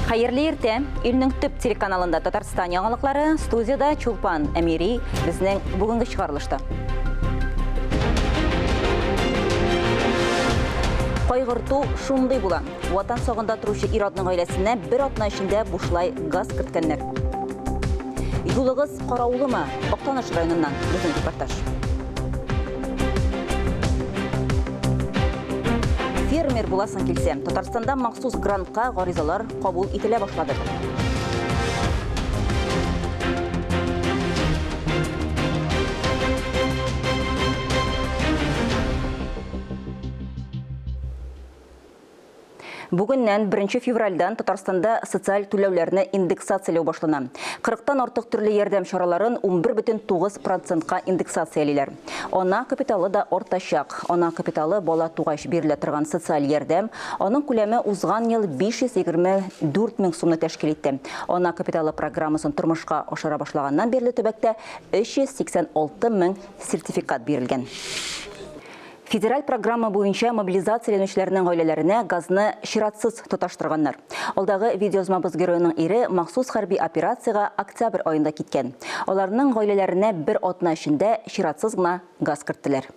Хәерле иртә! Илнең төп телеканалында Татарстан яңалыклары, студияда Чулпан Әмири, безнең бүгенге чыгарылышта. Кайгырту шундый була. Ватан сагында торучы ир-атның гаиләсенә бер атна эчендә бушлай газ керткәннәр. Юлыгыз караулымы? Актаныш районыннан безнең репортаж. Фермер буласың килсә, Татарстанда махсус грантка гаризалар кабул ителә башлады. Бүгеннән, беренче февральдән, Татарстанда социаль түләүләрне индексацияләү башлана. Кырыктан артык төрле ярдәм чараларын унбер бөтен тугыз процентка индексациялиләр. Ана капиталы да артачак. Ана капиталы, бала тугач бирелә торган социаль ярдәм. Аның күләме узган ел 524 мең сумны тәшкил итте. Ана капиталы программасын тормышка ашыра башлаганнан бирле төбәктә 386 мең сертификат бирелгән. Федераль программа буенча мобилизацияләнүчеләрнең гаиләләренә газны чиратсыз тоташтырганнар. Алдагы видеоязмабыз героеның ире махсус хәрби операциягә октябрь аенда киткән. Аларның гаиләләренә бер атна эчендә чиратсыз гына газ керттеләр.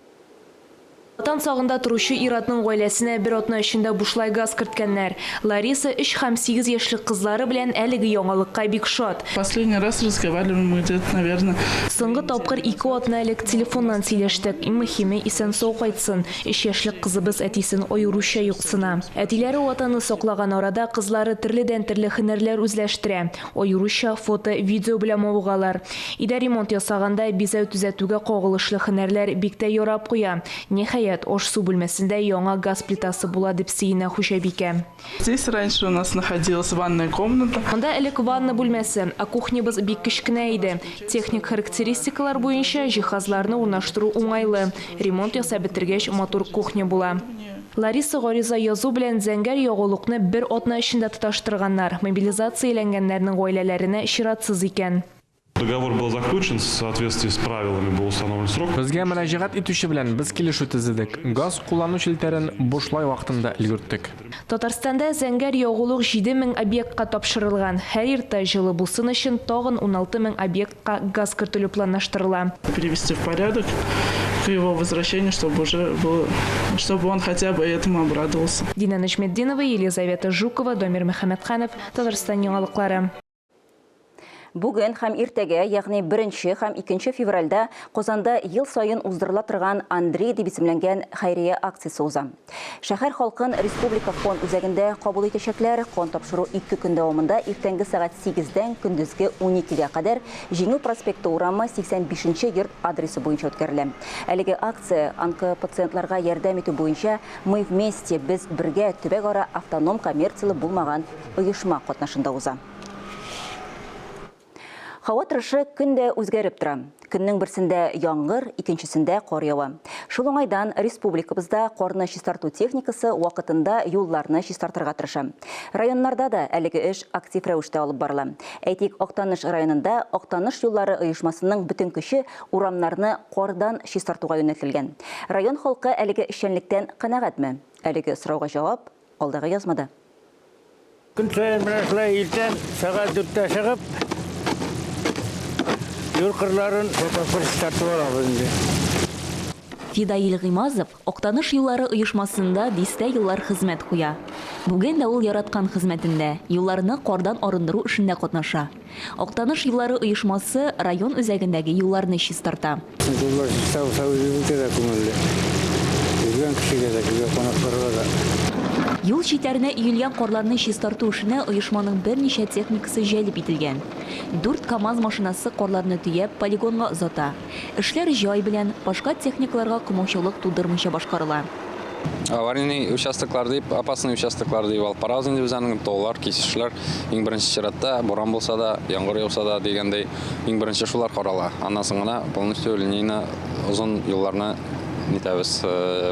Ватан сагында торучы ир-атның гаиләсенә бер атна эчендә бушлай газ керткәннәр. Лариса, өч һәм сигез яшьлек кызлары белән әлеге яңалыкка бик шат. Последний раз разговаривали мы где-то, наверное. Соңгы тапкыр ике атна элек телефоннан сөйләштек. Иң мөһиме, исән-сау кайтсын. Өч яшьлек кызыбыз әтисен аеруча юксына. Әтиләре Ватанны саклаган арада, кызлары төрледән-төрле һөнәрләр үзләштерә. Аеруча фото, видео белән мавыгалар. Өйдә ремонт ясаганда, бизәү-төзәтүгә кагылышлы һөнәрләр бик тә ярап куя. Ниһаять, аш-су бүлмәсендә яңа газ плитасы була, дип сөенә хуҗабикә. Здесь раньше у нас находилась ванная комната. Монда элек ванна бүлмәсе, ә кухнябыз бик кечкенә иде. Техник характеристикалар буенча җиһазларны урнаштыру уңайлы, ремонт ясап бетергәч матур кухня була. Лариса гариза язу белән зәңгәр ягулыкны бер атна эчендә тоташтырганнар, мобилизацияләнгәннәрнең гаиләләренә чиратсыз икән. Договор был заключен в соответствии с правилами, был установлен срок. Безгә мөрәҗәгать итүче белән без килешү төзедек, газ куллану челтәрен бушлай вакытында өлгерттек. Татарстанда зәңгәр ягулык 7 мең объектка тапшырылган. Һәр иртә җылы булсын өчен тагын уналты мең объектка газ кертелү планлаштырыла. Привести в порядок к его возвращению, чтобы уже был, чтобы он хотя бы этому обрадовался. Динә Нәҗметдинова, Елизавета Жукова, Дамир Мөхәммәтханов, Татарстан яңалыклары. Бүген һәм иртәгә, ягъни беренче һәм икенче февральдә Казанда ел саен уздырыла торган Андрей дип исемләнгән хәйрия акциясе уза. Шәһәр халкын Республика фон үзәгендә кабул итәчәкләр. Кан тапшыру ике көн дәвамында иртәнге сәгать 8-дән көндезге 12-гә кадәр Җиңү проспекты урамы, 85 нче йорт адресы буенча үткәрелә. Әлеге акция онкопациентларга ярдәм итү буенча Мы вместе, без бергә, төбәкара автоном коммерцияле булмаган оешма катнашында уза. Һава торышы көн дә үзгәреп тора. Көннең берсендә яңгыр, икенчесендә кар ява. Шул уңайдан республикабызда карны чистарту техникасы вакытында юлларны чистартырга тырыша. Районнарда да әлеге эш актив рәвештә алып барыла. Әйтик, Актаныш районында Актаныш юллары оешмасының бөтен көче урамнарны кардан чистартуга юнәлтелгән. Район халкы әлеге эшчәнлектән канәгатьме? Әлеге сорауга җавап. Алдагы язмада. Көн саен менә шулай иртән сәгать дүрттә чыгып, юл кырларын фотофор чистартып алабыз инде. Фидаил Гыймазов Актаныш юллары оешмасында дистә еллар хезмәт куя. Бүген дә ул яраткан хезмәтендә, юлларны кардан арындыру эшендә катнаша. Актаныш юллары оешмасы район үзәгендәге юлларны чистарта. Культуралар чиста-уса үзебезгә дә күңелле. Килгән кешегә дә, килгән кунакларга да. Юл читләренә өелгән карларны чистарту эшенә оешманың берничә техникасы җәлеп ителгән. Дүрт КАМАЗ машинасы карларны төяп, полигонга озата. Эшләр җай белән, башка техникаларга комаучаулык тудырмыйча башкарыла. Аварийный участоклар дип, опасный участоклар дип алып барабыз инде без аны. Таулар, кисешләр, иң беренче чиратта, буран булса да, яңгыр яуса да дигәндәй, иң беренче шулар карала. Аннан соң гына полностью линейно озын юлларны нитәбез,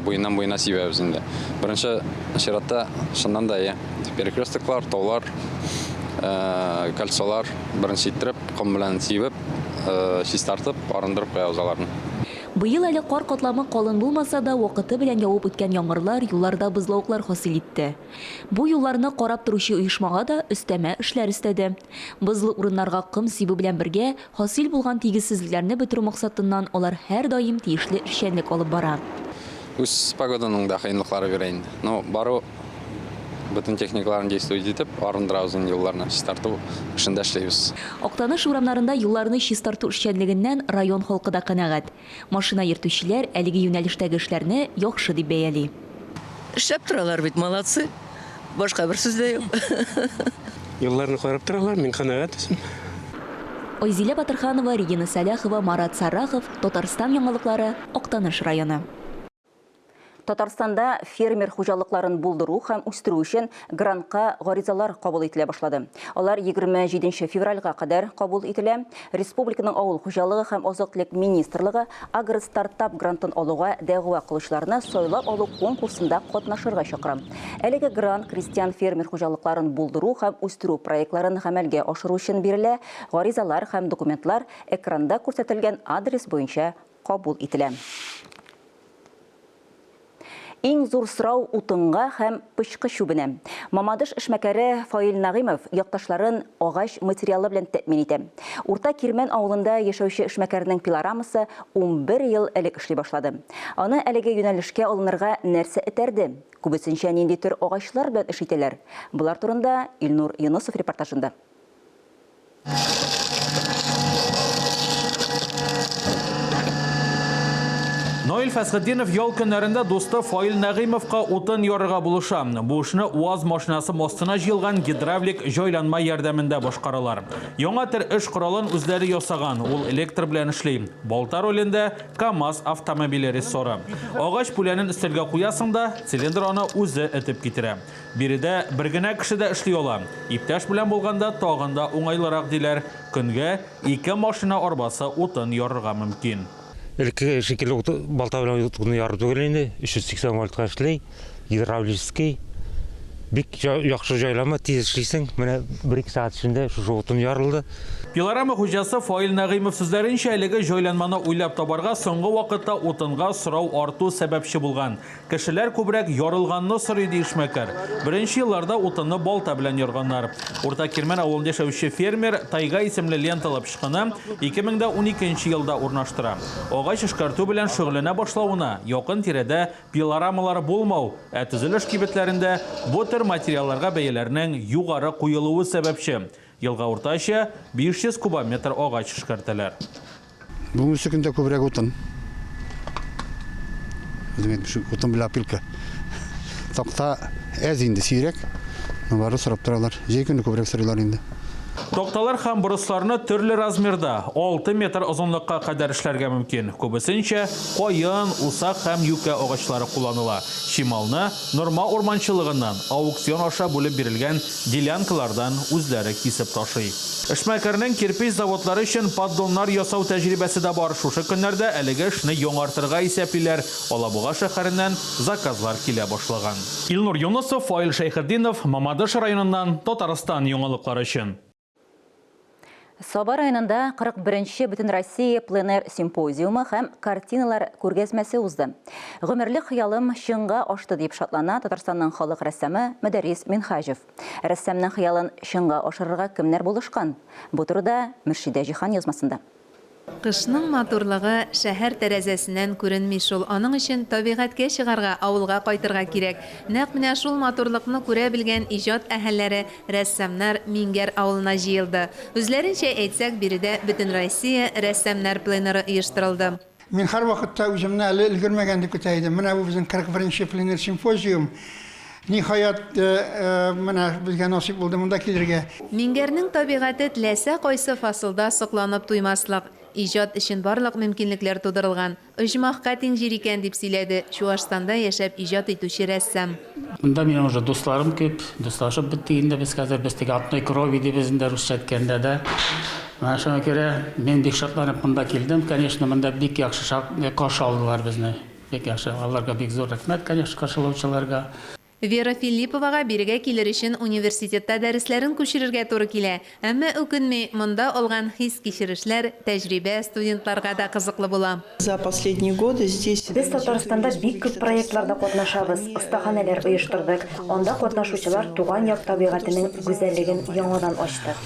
буеннан-буена сибәбез инде. Беренче чиратта, чыннан да, әйе, перекрёстоклар, таулар, кольцолар, беренче иттереп. Ком белән сибеп, чистартып, арындырып куябыз аларны. Быел әле кар катламы калын булмаса да, вакыты белән явып үткән яңгырлар юлларда бозлавыклар хасил итте. Бу юлларны карап торучы оешмага да өстәмә эшләр өстәде. Бозлы урыннарга ком сибү белән бергә, хасил булган тигезсезлекләрне бетерү максатыннан алар һәрдаим тиешле эшчәнлек алып бара. Үз погоданың да кыенлыклары бирә инде. Но бару бөтен техникаларын действовать итеп, арындырабыз инде юлларны, чистарту эшендә эшлибез. Актаныш урамнарында юлларны чистарту эшчәнлегеннән район халкы да канәгать. Машина йөртүчеләр әлеге юнәлештәге эшләрне яхшы дип бәяли. Эшләп торалар бит, молодцы! Башка бер сүз дә юк. Юлларны карап торалар, мин канәгать үзем. Айзилә Батырханова, Регина Сәләхова, Марат Саррахов, Татарстан яңалыклары, Актаныш районы. Татарстанда фермер хуҗалыкларын булдыру һәм үстерү өчен грантка гаризалар кабул ителә башлады. Алар 27 февральга кадәр кабул ителә. Республиканың авыл хуҗалыгы һәм азык-төлек министрлыгы Агростартап грантын алуга дәгъва кылучыларны сайлап алу конкурсында катнашырга чакыра. Әлеге грант крестьян-фермер хуҗалыкларын булдыру һәм үстерү проектларын гамәлгә ашыру өчен бирелә, гаризалар һәм документлар экранда күрсәтелгән адрес буенча кабул ителә. Иң зур сорау утынга һәм пычкы чүбенә. Мамадыш эшмәкәре Фаил Нәгыймов якташларын агач материалы белән тәэмин итә. Урта Кирмән авылында яшәүче эшмәкәрнең пилорамасы унбер ел элек эшли башлады. Аны әлеге юнәлешкә алынырга нәрсә этәрде? Күбесенчә нинди төр агачлар белән эш итәләр? Болар турында Илнур Йонысов репортажында. Наил Фәсхетдинов ял көннәрендә дусты Фаил Нәгыймовка утын ярырга булыша. Бу эшне УАЗ машинасы мостына җыелган гидравлик җайланма ярдәмендә башкаралар. Яңа төр эш коралын үзләре ясаган, ул электр белән эшли. Балта ролендә КАМАЗ автомобиле рессоры. Агач пүләнен өстәлгә куясың да, цилиндр аны үзе этеп китерә. Биредә бер генә кеше дә эшли ала. Иптәш белән булганда тагын да уңайлырак, диләр. Көнгә ике машина арбасы утын ярырга мөмкин. Элеккеге шикелле ут балта белән утны яру түгел инде, 380 вольтка эшли, гидравлический. Бик яхшы җайланма, тиз эшлисең. Менә бер-ике сәгать эчендә шушы утын ярылды. Пилорама хуҗасы Фаил Нәгыймов сүзләренчә, әлеге җайланманы уйлап табарга соңгы вакытта утынга сорау арту сәбәпче булган. Кешеләр күбрәк ярылганны сорый, ди эшмәкәр. Беренче елларда утынны балта белән ярганнар. Урта Кирмән авылында яшәүче фермер Тайга исемле ленталы пычкыны 2012 нче елда урнаштыра. Агач эшкәртү белән шөгыльләнә башлавына, якын тирәдә пилорамалар булмау, ә төзелеш кибетләрендә бу төр материалларга бәяләрнең югары куелуы сәбәпче, Елга уртача 500 кубометр агач эшкәртәләр. Бүгенге көндә күбрәк утын. Утын белән опилка. Такта әз инде, сирәк. Бары сорап торалар. Җәй көне күбрәк сорыйлар инде. Такталар һәм бросларны төрле размерда, 6 метр озынлыкка кадәр эшләргә мөмкин. Күбесенчә каен, усак һәм юкә агачлары кулланыла. Чималны, норма урманчылыгыннан, аукцион аша бүлеп бирелгән делянкалардан үзләре кисеп ташый. Эшмәкәрнең кирпеч заводлары өчен поддоннар ясау тәҗрибәсе дә бар, шушы көннәрдә әлеге эшне яңартырга исәплиләр, Алабуга шәһәреннән заказлар килә башлаган. Илнур Юнысов, Фаил Шәйхетдинов, Мамадыш районыннан, Татарстан яңалыклары өчен. Саба районында 41-нче Бөтенроссия пленэр симпозиумы һәм картиналар күргәзмәсе узды. Гомерлек хыялым чынга ашты, дип шатлана Татарстанның халык рәссамы Мөдәррис Минһаҗев. Рәссамның хыялын чынга ашырырга кемнәр булышкан? Бу турыда Мөршидә Җиһан язмасында. Кышның матурлыгы шәһәр тәрәзәсеннән күренми шул, аның өчен табигатькә чыгарга, авылга кайтырга кирәк. Нәкъ менә шул матурлыкны күрә белгән иҗат әһелләре, рәссамнар Миңгәр авылына җыелды. Үзләренчә әйтсәк, биредә Бөтенроссия рәссамнар пленэры оештырылды. Мин һәрвакытта үземне әле өлгермәгән дип көтә идем. Менә бу безнең 41 нче пленер симпозиум. Ниһаять, менә безгә насыйп булды монда килергә. Миңгәрнең табигате теләсә кайсы фасылда сокланып туймаслык. Иҗат өчен барлык мөмкинлекләр тудырылган. Оҗмахка тиң җир икән, дип сөйләде Чуашстанда яшәп иҗат итүче рәссам. Монда минем уже дусларым күп, дуслашып беттек инде без хәзер, без теге одной крови дибез инде русча әйткәндә дә. Менә шуңа күрә мин бик шатланып монда килдем, конечно, монда бик яхшы шат, каршы алдылар безне. Бик яхшы, аларга бик зур рәхмәт, конечно, каршылаучыларга. Вера Филипповага бирегә килер өчен университетта дәресләрен күчерергә туры килә. Әмма үкенми, монда алган хис-кичерешләр, тәҗрибә студентларга да кызыклы була. Без Татарстанда бик күп проектларда катнашабыз, остаханәләр оештырдык, анда катнашучылар туган як табигатенең гүзәллеген яңадан ачты.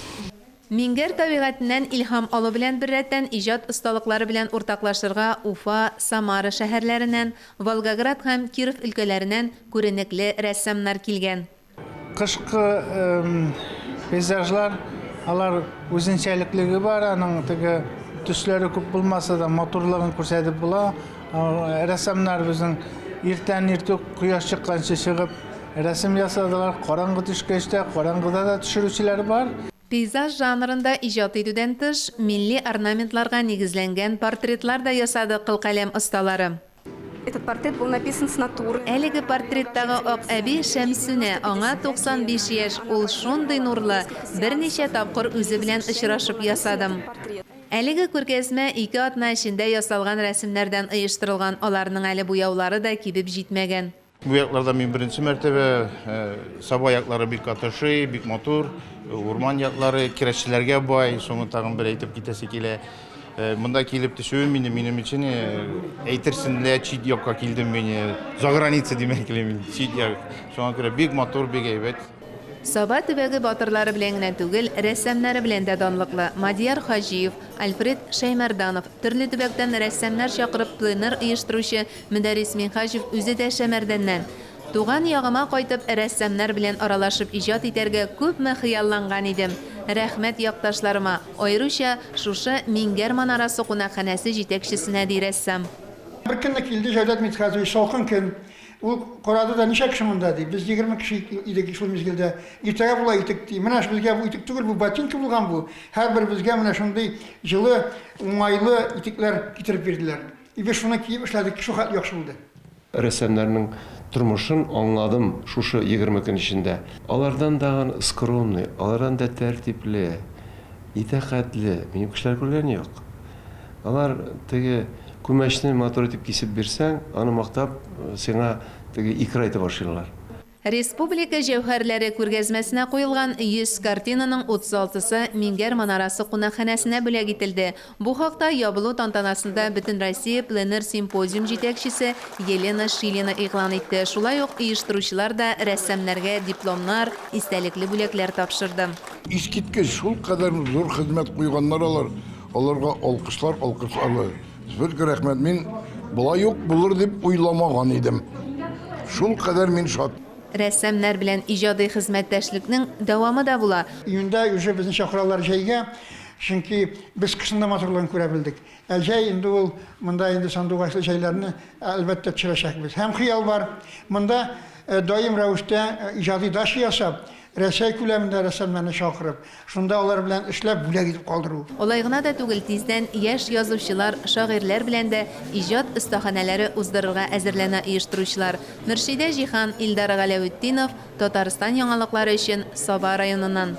Миңгәр табигатеннән илһам алу белән беррәттән иҗат осталыклары белән уртаклашырга Уфа, Самара шәһәрләреннән, Волгоград һәм Киров өлкәләренән күренекле рәссамнар килгән. Кышкы пейзажлар, алар үзенчәлеклеге бар, аның теге төсләре күп булмаса да, матурлыгын күрсәтеп була. Рәссамнар безнең иртән иртүк кояш чыкканчы чыгып, рәсем ясадылар. Караңгы төшкәч тә, караңгыда да төшерүчеләр бар. Пейзаж жанрында иҗат итүдән тыш, милли орнаментларга нигезләнгән портретлар да ясады кылкаләм осталары. Этот портрет был написан с натуры. Әлеге портреттагы ак әби Шәмсүнә, аңа 95 яшь, ул шундый нурлы, берничә тапкыр үзе белән очрашып ясадым. Әлеге күргәзмә ике атна эчендә ясалган рәсемнәрдән оештырылган, аларның әле буяулары да кибеп җитмәгән. Бу якларда мин беренче мәртәбә. Саба яклары бик катышый, бик матур. Урман яклары, керәшчеләргә бай. Шуны тагын бер әйтеп китәсе килә. Монда килеп төшүем инде минем өчен әйтерсең лә чит якка килдем мин. Заграница димәк килә мин, чит як. Шуңа күрә бик матур, бик әйбәт. Саба төбәге батырлары белән генә түгел, рәссамнары белән дә данлыклы. Мадияр Хаҗиев, Альфред Шәймәрданов, төрле төбәктән рәссамнар чакырып пленэр оештыручы Мөдәррис Минһаҗев үзе дә Шәмәрдәннән. Туган ягыма кайтып, рәссамнар белән аралашып иҗат итәргә күпме хыялланган идем. Рәхмәт якташларыма, аеруча шушы Миңгәр манарасы кунакханәсе җитәкчесенә, ди рәссам. Беркөнне килде Җәүдәт Митхәтович, салкын көн. Ул карады да, Ничә кеше монда? ди. Без егерме кеше идек шул мизгелдә. Иртәгә була итек, ди. Менә безгә бу итек түгел, бу ботинка булган бу. Һәрберебезгә менә шундый җылы, уңайлы итекләр китереп бирделәр. Иде шуны киеп эшләдек, шул хәтле яхшы булды. Рәссамнарның тормышын аңладым шушы егерме көн эчендә. Алардан да скромный, алардан да тәртипле, итәкатьле минем кешеләр күргән юк. Алар теге күмәчне матур итеп кисеп бирсәң, аны мактап, сиңа теге икра әйтә башлыйлар. Республика җәүһәрләре күргәзмәсенә куелган 100 картинаның 36-сы Мингәр манарасы кунакханәсенә бүләк ителде. Бу хакта ябылу тантанасында Бөтенроссия пленэр симпозиум җитәкчесе Елена Шилина игълан итте, шулай ук оештыручылар да рәссамнарга дипломнар, истәлекле бүләкләр тапшырды. Искиткеч, шулкадәр зур хезмәт куйганнар алар, аларга алкышлар алкышларга. Зөлке рәхмәт, мин болай ук булыр дип уйламаган идем. Шул кадәр мин шат. Рәссамнар белән иҗади хезмәттәшлекнең дәвамы да була. Июньдә уже безне чакыралар җәйгә, чөнки без кышның да матурлыгын күрә белдек. Ә җәй инде ул, монда инде сандугачлы җәйләрне, әлбәттә, төшерәчәкбез. Һәм хыял бар, монда даим рәвештә иҗади дача ясап, Рәсәй күләмендә рәссамнарны чакырып, шунда алар белән эшләп, бүләк итеп калдыру. Алай гына да түгел, тиздән яшь язучылар, шагыйрьләр белән дә иҗат остаханәләре уздырырга әзерләнә оештыручылар. Мөршидә Җиһан, Илдар Галәветдинов, Татарстан яңалыклары өчен, Саба районыннан.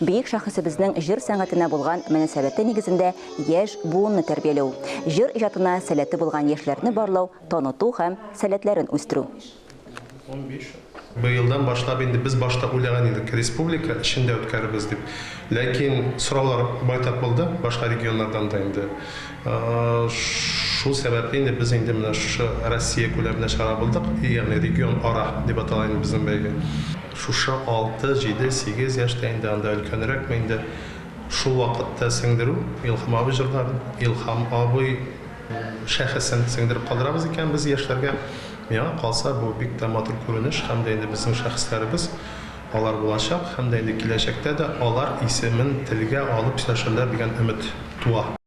Бөек шәхесебезнең җыр сәнгатенә булган мөнәсәбәте нигезендә яшь буынны тәрбияләү, җыр иҗатына сәләте булган яшьләрне барлау, таныту һәм сәләтләрен үстерү. Быелдан башлап инде без башта уйлаган идек, республика эчендә үткәрербез дип. Ләкин сораулар байтак булды, башка регионнардан да инде. Шул сәбәпле инде без инде менә шушы Россия күләмендә чыгара булдык, ягъни регион ара дип атала инде безнең бәйге. Шушы алты, җиде, сигез яшьтә инде, анда өлкәнрәкме инде, шул вакытта сеңдерү, Илһам абый җырларын, Илһам абый шәхесен сеңдереп калдырабыз икән без яшьләргә. Миңа калса, бу бик тә матур күренеш һәм дә инде безнең шәхесләребез, алар булачак һәм дә инде киләчәктә дә алар исемен телгә алып сөйләшерләр дигән өмет туа.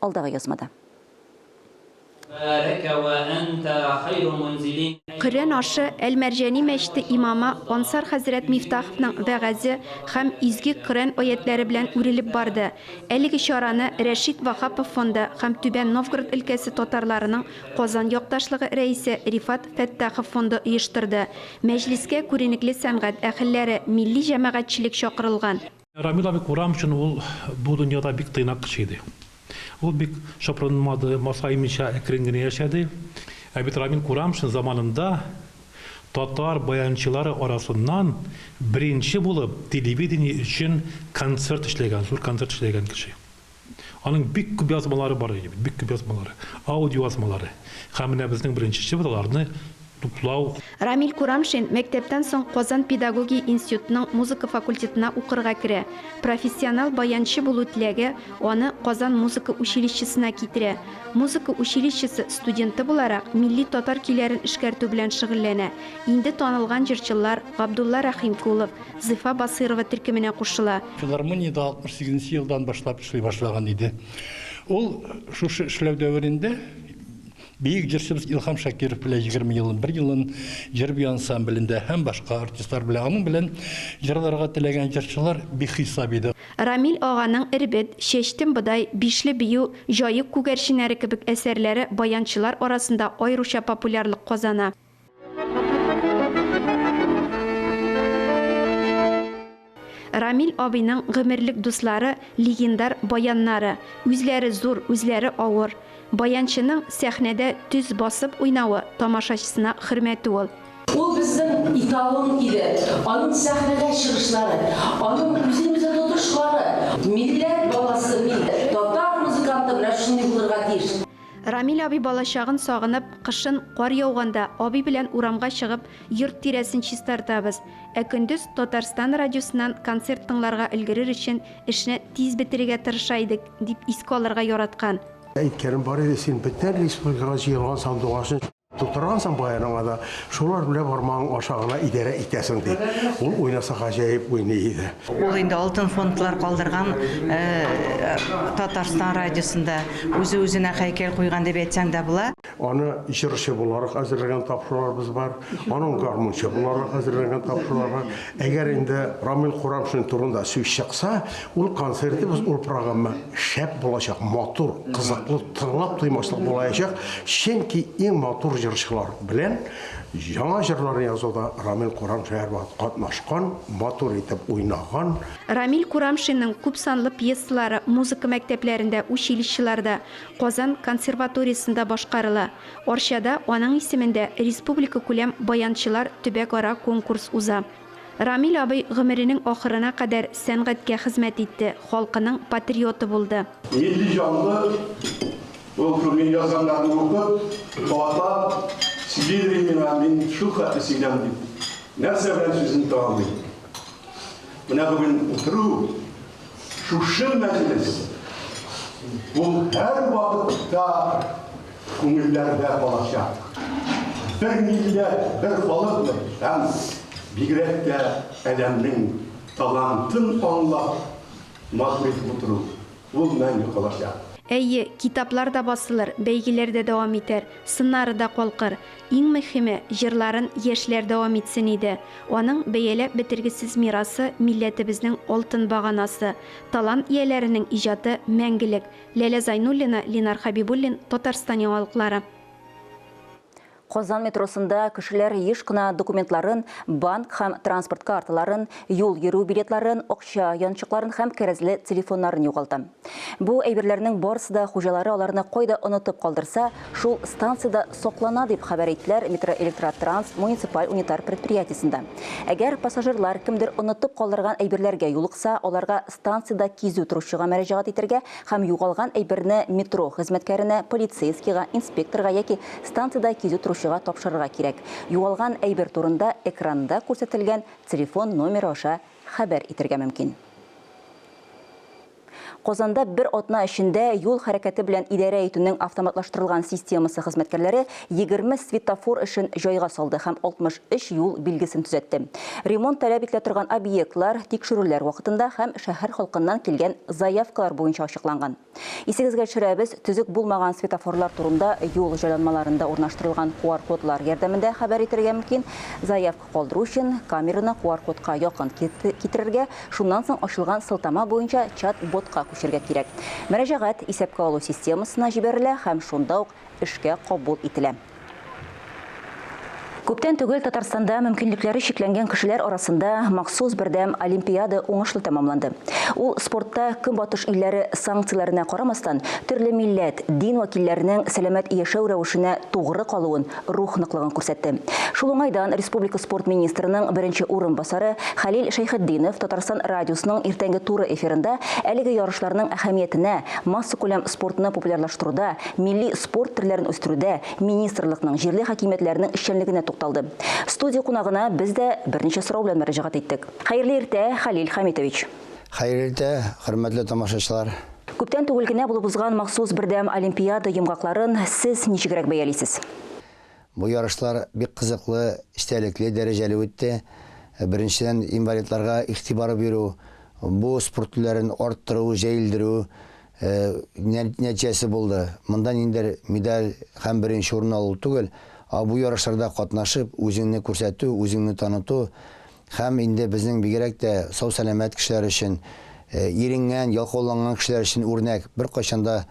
алдагы язмада. Коръән ашы Әл-Мәрҗани мәчете имамы Ансар хәзрәт Мифтаховның вәгазе һәм изге Коръән аятьләре белән үрелеп барды. Әлеге чараны Рәшит Ваһапов фонды һәм Түбән Новгород өлкәсе татарларының Казан якташлыгы рәисе Рифат Фәттахов фонды оештырды. Мәҗлескә күренекле сәнгать әһелләре, милли җәмәгатьчелек чакырылган. Рамил абый Курам өчен ул бу дөньяда бик тыйнак кеше иде. Ул бик чопырынмады, масаймыйча әкрен генә яшәде. Ә бит Рамил Курамшин заманында татар баянчылары арасыннан беренче булып телевидение өчен концерт эшләгән, зур концерт эшләгән кеше. Аның бик күп язмалары бар иде бит, бик күп язмалары, аудиоязмалары. Һәм менә безнең беренче эшебез аларны туплау. Рамил Курамшин мәктәптән соң Казан педагогия институтының музыка факультетына укырга керә. Профессионал баянчы булу теләге аны Казан музыка училищесына китерә. Музыка училищесы студенты буларак, милли татар көйләрен эшкәртү белән шөгыльләнә. Инде танылган җырчылар Габдулла Рәхимкулов, Зифа Басыйрова төркеменә кушыла. Филармониядә 68 нче елдан башлап эшли башлаган иде. Ул шушы эшләү дәверендә биек җырчыбыз Илһам Шакиров белән 20 елын, бер елын җыр-бию ансамблендә һәм башка артистлар белән аның белән җырларга теләгән җырчылар бихисап иде. Рамил аганың Эрбет, Чәчтем бодай, Бишле бию, Җаек күгәрченнәре кебек әсәрләре баянчылар арасында аеруча популярлык казана. Рамил абыйның гомерлек дуслары, легендар баяннары. Үзләре зур, үзләре авыр. Баянчының сәхнәдә төз басып уйнавы, тамашачысына хөрмәте ул. Ул безнең эталон иде. Аның сәхнәдә чыгышлары, аның үзен-үзе тотышлары. Милләт баласы мин, татар музыканты менә шундый булырга тиеш. Рамил абый балачагын сагынып, кышын, кар яуганда, абый белән урамга чыгып, йорт тирәсен чистартабыз, ә көндез Татарстан радиосыннан концерт тыңларга өлгерер өчен эшне тиз бетерергә тырыша идек, дип искә алырга яраткан. Әйткәнем бар иде, син бөтен республикага җыелган сандугачны. Тутыргансың баерыңа да, шулар белән бармагың аша гына идарә итәсең, ди. Ул уйнаса гаҗәеп уйный иде. Ул инде алтын фондлар калдырган Татарстан радиосында, үзе-үзенә һәйкәл куйган дип әйтсәң дә була. Аны җырчы буларак әзерләгән тапшыруларыбыз бар, аның гармунчы буларак әзерләгән тапшырулары. Әгәр инде Рамил Курамшин турында сүз чыкса, Ул концертыбыз, ул программа шәп булачак, матур, кызыклы, тыңлап туймаслык булаячак, чөнки иң матур җырчылар белән яңа җырлар язуда Рамил Курамшин катнашкан, матур итеп уйнаган. Рамил Курамшинның күпсанлы пьесалары музыка мәктәпләрендә, училищеларда, Казан консерваториясендә башкарыла. Арчада аның исемендә республикакүләм баянчылар төбәкара конкурс уза. Рамил абый гомеренең ахырына кадәр сәнгатькә хезмәт итте, халкының патриоты булды. Нинди җанлы ул Күңел язганнарны укып, кабатлап сөйлидер миңа, мин шул хәтле сөйләм дип, нәрсә белән сүзен тәмамлыйм. Менә бүген утыру Шушы мәҗлес ул һәрвакытта күңелләрдә калачак. Бер милләт, бер халыкмы һәм бигрәк тә Әләмнең талантын аңлап матур итеп утыру, ул мәңге калачак. Әйе, китаплар да басылыр, бәйгеләр дә дәвам итәр, сыннары да калкыр. Иң мөһиме, җырларын яшьләр дәвам итсен иде. Аның бәяләп бетергесез мирасы, милләтебезнең алтын баганасы. Талант ияләренең иҗаты, мәңгелек. Ләлә Зайнуллина, Линар Хәбибуллин, Татарстан яңалыклары. Казан метросында кешеләр еш кына документларын, банк һәм транспорт карталарын, юл йөрү билетларын, акча янчыкларын һәм кәрәзле телефоннарын югалта. Бу әйберләрнең барысы да хуҗалары аларны кайда онытып калдырса, шул станциядә саклана, дип хәбәр иттеләр Метроэлектротранс муниципаль унитар предприятиесендә. Әгәр пассажирлар кемдер онытып калдырган әйберләргә юлыкса, аларга станциядә кизү торучыга мәрәҗәгать итәргә һәм югалган әйберне метро хезмәткәренә, полицейскийга, инспекторга яки станциядә кизү торучыга тапшырырга кирәк. Югалган әйбер турында экранда күрсәтелгән телефон номеры аша Хәбәр итергә мөмкин. Казанда бер атна эчендә юл хәрәкәте белән идарә итүнең автоматлаштырылган системасы хезмәткәрләре 20 светофор эшен җайга салды һәм 63 юл билгесен төзәтте. Ремонт таләп ителә торган объектлар тикшерүләр вакытында һәм шәһәр халкыннан килгән заявкалар буенча ачыкланган. Исегезгә төшерәбез, төзек булмаган светофорлар турында юл җайланмаларында урнаштырылган QR-кодлар ярдәмендә хәбәр итәргә мөмкин. Заявка калдыру өчен, камераны QR-кодка якын китерергә, шуннан соң ачылган сылтама буенча чат-ботка күчәргә кирәк. Мөрәҗәгать исәпкә алу системасына җибәрелә һәм шунда ук эшкә кабул ителә. Күптән түгел Татарстанда мөмкинлекләре чикләнгән кешеләр арасында махсус бердәм олимпиада уңышлы тәмамланды. Ул спортта Көнбатыш илләре санкцияләренә карамастан, төрле милләт, дин вәкилләренең сәламәт яшәү рәвешенә тугры калуын, рух ныклыгын күрсәтте. Шул уңайдан республика спорт министрының беренче урынбасары Хәлил Шәйхетдинов Татарстан радиосының иртәнге туры эфирында әлеге ярышларның әһәмиятенә, массакүләм спортны популярлаштыруда милли спорт төрләрен үстерүдә министрлыкның, җирле хакимиятләрнең эшчәнлегенә тукталды. Студия кунагына без дә берничә сорау белән мөрәҗәгать иттек. Хәерле иртә, Хәлил Хәмитович! Хәерле иртә, хөрмәтле тамашачылар! Күптән түгел генә булып узган махсус бердәм олимпиада йомгакларын сез ничегрәк бәялисез? Бу ярышлар бик кызыклы, эчтәлекле, дәрәҗәле үтте. Беренчедән, инвалидларга игътибар бирү, бу спорт түләрен арттыру, җәелдерү, нәтиҗәсе булды. Монда ниндидер медаль һәм беренче урын алу түгел, ә бу ярышларда катнашып, үзеңне күрсәтү, үзеңне таныту һәм инде безнең бигрәк тә сау-сәламәт кешеләр өчен, иренгән, ялкауланган кешеләр өчен үрнәк, беркайчан да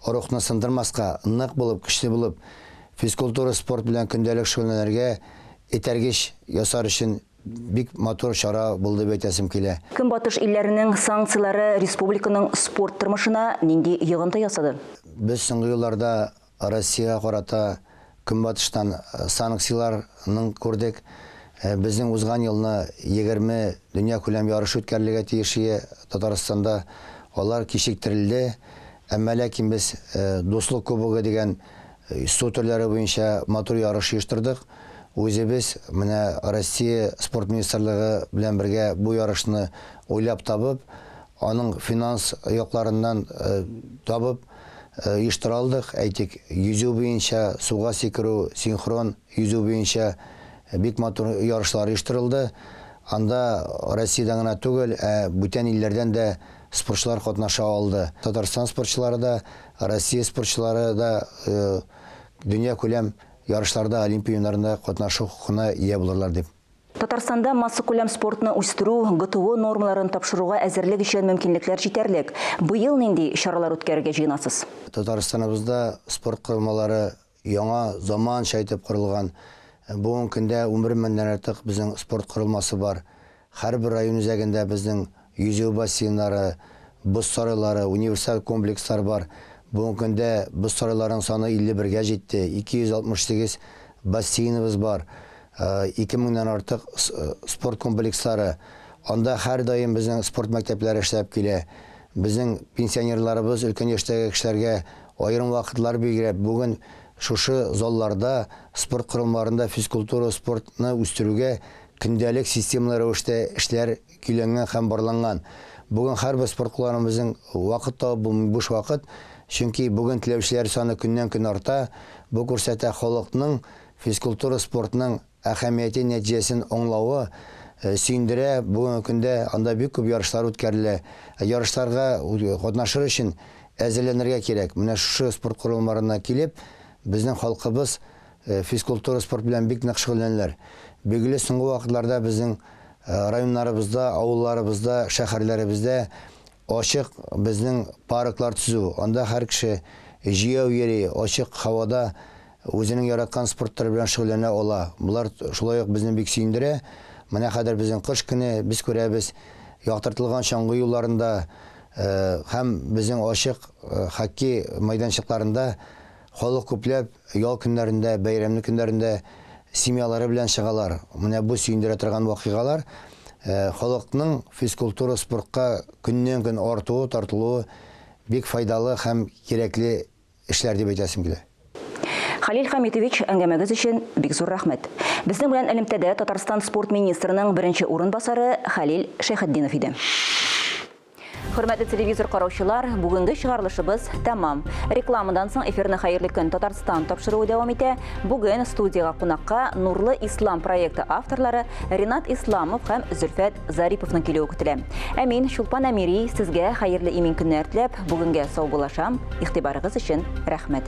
рухны сындырмаска, нык булып, көчле булып, физкультура, спорт белән көндәлек шөгыльләнергә этәргеч ясар өчен Бик матур чара булды дип әйтәсем килә. Көнбатыш илләренең санкцияләре республиканың спорт тормышына нинди йогынты ясады? Без соңгы елларда Россиягә карата Көнбатыштан санкцияләрнең күрдек. Безнең узган елны егерме дөньякүләм ярышы үткәрелергә тиеш ие Татарстанда. Алар кичектерелде. Әмма ләкин без Дуслык кубогы дигән Йсу төрләре буенча матур ярыш оештырдык. Үзебез менә Россия Спорт министрлыгы белән бергә бу ярышны уйлап табып, аның финанс якларыннан табып оештыра алдык. Әйтик, йөзү буенча, суга сикерү, синхрон йөзү буенча бик матур ярышлар оештырылды. Анда Россиядән генә түгел, ә бүтән илләрдән дә спортчылар катнаша алды. Татарстан спортчылары да, Россия спортчылары да дөньякүләм ярышларда, Олимпия уеннарында катнашу хокукына ия булырлар дип. Татарстанда массакүләм спортны үстерү, ГТО нормаларын тапшыруга әзерлек өчен мөмкинлекләр җитәрлек. Быел нинди чаралар үткәрергә җыенасыз? Татарстаныбызда спорт корылмалары Яңа заманча итеп корылган бүгенге көндә унбер меңнән артык безнең спорт корылмасы бар. Һәрбер район үзәгендә безнең йөзү бассейннары, боз сарайлары, универсаль комплекслар бар. Бүгенге көндә боз сарайларының саны 51 гә җитте, 268 бассейныбыз бар, ике меңнән артык спорт комплекслары. Анда һәрдаим безнең спорт мәктәпләре эшләп килә. Безнең пенсионерларыбыз, өлкән яшьтәге кешеләргә Аерым вакытлар билгеләп, бүген шушы залларда, спорт корылмаларында физкультура, спортны үстерүгә көндәлек системалы рәвештә эшләр көйләнгән һәм барланган. Бүген һәрбер спорт кулланучыбызның вакыт табып булмый буш вакыт, чөнки бүген теләүчеләр саны көннән-көн арта, бу күрсәтә халыкның физкультура, спортның әһәмияте нәтиҗәсен аңлавы сөендерә, бүгенге көндә анда бик күп ярышлар үткәрелә. Ә ярышларга катнашыр өчен әзерләнергә кирәк. Менә шушы спорт корылмаларына килеп, безнең халкыбыз физкультура, спорт белән бик нык шөгыльләнәләр. Билгеле, соңгы вакытларда безнең районнарыбызда, авылларыбызда, шәһәрләребездә Ачык безнең парклар төзү, анда һәр кеше җәяү йөри, ачык һавада үзенең яраткан спорт төре белән шөгыльләнә ала. Болар шулай ук безне бик сөендерә. Менә хәзер безнең кыш көне, без күрәбез, яктыртылган чаңгы юлларында һәм безнең ачык хоккей мәйданчыкларында Халык күпләп ял көннәрендә, бәйрәмле көннәрендә семьялары белән чыгалар. Менә бу сөендерә торган вакыйгалар халыкның физкультура, спортка көннән-көн артуы, тартылуы бик файдалы һәм кирәкле эшләр дип әйтәсем килә. Хәлил Хәмитович, әңгәмәгез өчен бик зур рәхмәт. Безнең белән элемтәдә Татарстан спорт министрының беренче урынбасары Хәлил Шәйхетдинов иде. Хөрмәтле телевизор караучылар, бүгенге чыгарылышыбыз тәмам. Рекламадан соң эфирны Хәерле көн Татарстан тапшыруы дәвам итә. Бүген студиягә кунакка Нурлы Ислам проекты авторлары Ренат Исламов һәм Зөлфәт Зариповның килүе көтелә. Ә мин Чулпан Әмири сезгә хәерле имин көннәр теләп, бүгенгә саубуллашам. Игътибарыгыз өчен рәхмәт.